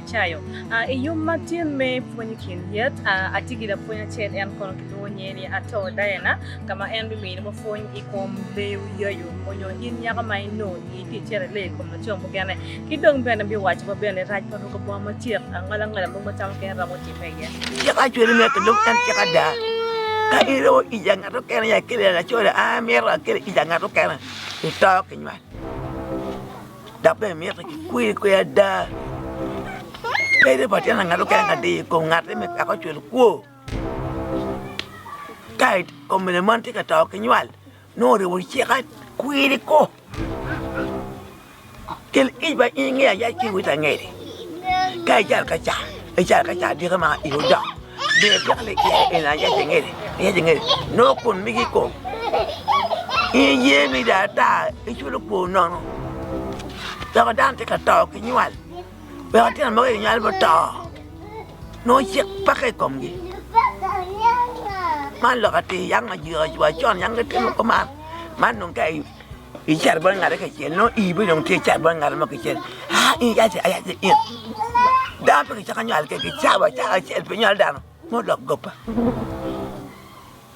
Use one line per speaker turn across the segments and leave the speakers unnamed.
Acayo. Uh, I yom matin me pwony kin yet, uh, atye gi lapwony acel en kono kilwongo nyinge ni Ato Diana, ka ma en bimiyo mo pwony i kom leyo yayo onyo in nyaka ma ino itye cere le i kom laco mukene. Ki dong bene biwaco wa bene rac pa ruko bongo macek, angala ngala mo macamo kene romo timo. Cik acwele ni myero
kilub en cik ada. Ka in iromo ic a ngat mukene nyo akeli laco ni an amyero akeli ic a ngat mukene, ito ki nywal dok bene myero kikwir kwer ada. Pe iribo pa tyen pa ngat mukene ka diyo i kom ngati me wek ocwel kwo ka kommene moni tye ka to ki nywal. Nongo oribo cika kwiri ko. Kel ic ma in ngeya ya ci wit angeri. Ka ical ka ca, ical ka ca dike ma i odok. Be pek le iya en a yac angeri, yac angeri. Nongo kun migi ko. In ye mi da ata iculo kwor nono. Dok dano tye ka to ki nywal. wek atino mogo aye onyal muto nongo cik peke i komgi man lok atir yam wa con yam gitimo kuman man dong ka icito bot ngate kacel nongo ii bene dong tye icat bot ngat mo kacel aa in yac aa yac in dano pe kicaka nywal kec kicawa acaka acel pe nywalo dano ma olok goba.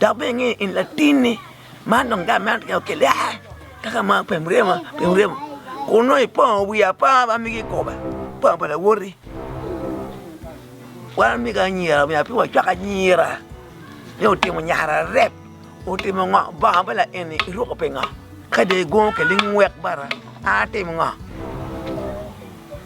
dok bene inge in latinni man dong gang meno keken okelle aa kaka ma pe muremo pe muremo kun nongo ipongo wi aponga bene migi kome ipongo pa lawoti wan omiga anyira omiyo pe wacwak anyira ni otimo nyare arep otimo ngo bongo me laeni iruko pingo ka dong igungo okelli ngwek bara an atimo ngo.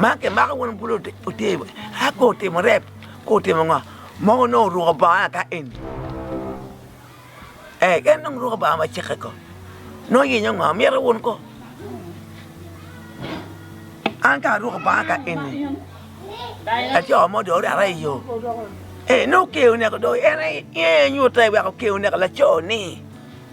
Ma ki mako wun bulu otimo a ko otimo rep ko otimo ngo ma wun nongo oruko bongo aka eni ee en nongo oruko bongo ma ceke ko nongo iyenyo ngo mito wun ko an ka aruko bongo aka eni laco mo dong orara i yo ee nongo okeyo neko dong en aye nyutte wek okeyo neko laco ni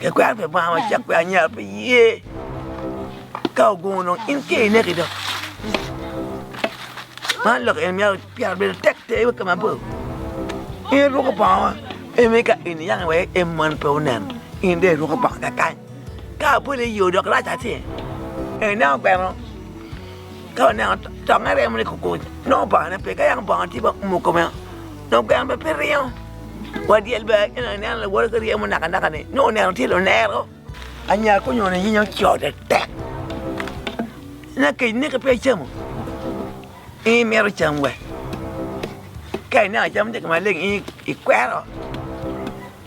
Kikwero pi banga macek pi anya pi ye ka ogungo dong in tye i neki dong man lok eni miyo pire bedo tek ter wa kama bor in iruko bongo ma eni ka in iyang iweko i moni pe oneno in dong iruko bongo kakany ka aboli iyo dok rac atir ineno kwene mo. ka oneno tonge remo ni kukuc nongo obangone pe ka yako bongo tye ma oumo kome dong gweno bene pe ringo wa dyel bene ka ineno lawote ka ryemo naka naka ni nongo oneno tye lunero anya ka onyono nyinge ocode tek ina kec neke pe icamo in imito cam wek ka ineno cam tye ka maleng in ikwero.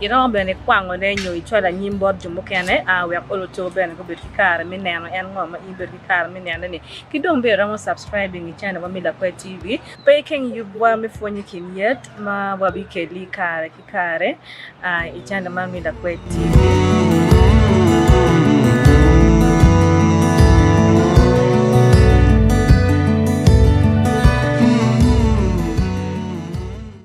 Iromo bene ikwangone nyo icwalo anyim bot jo mukene wek oluto bene gubed ki kare me neno en ngo ma in ibedo ki kare me nene ni. Ki dong bene iromo subscribing i channel wa me Lakwe TV. Pe ikeng yub wa me pwony i kin yet ma wa bi keli kare ki kare i channel man me Lakwe TV.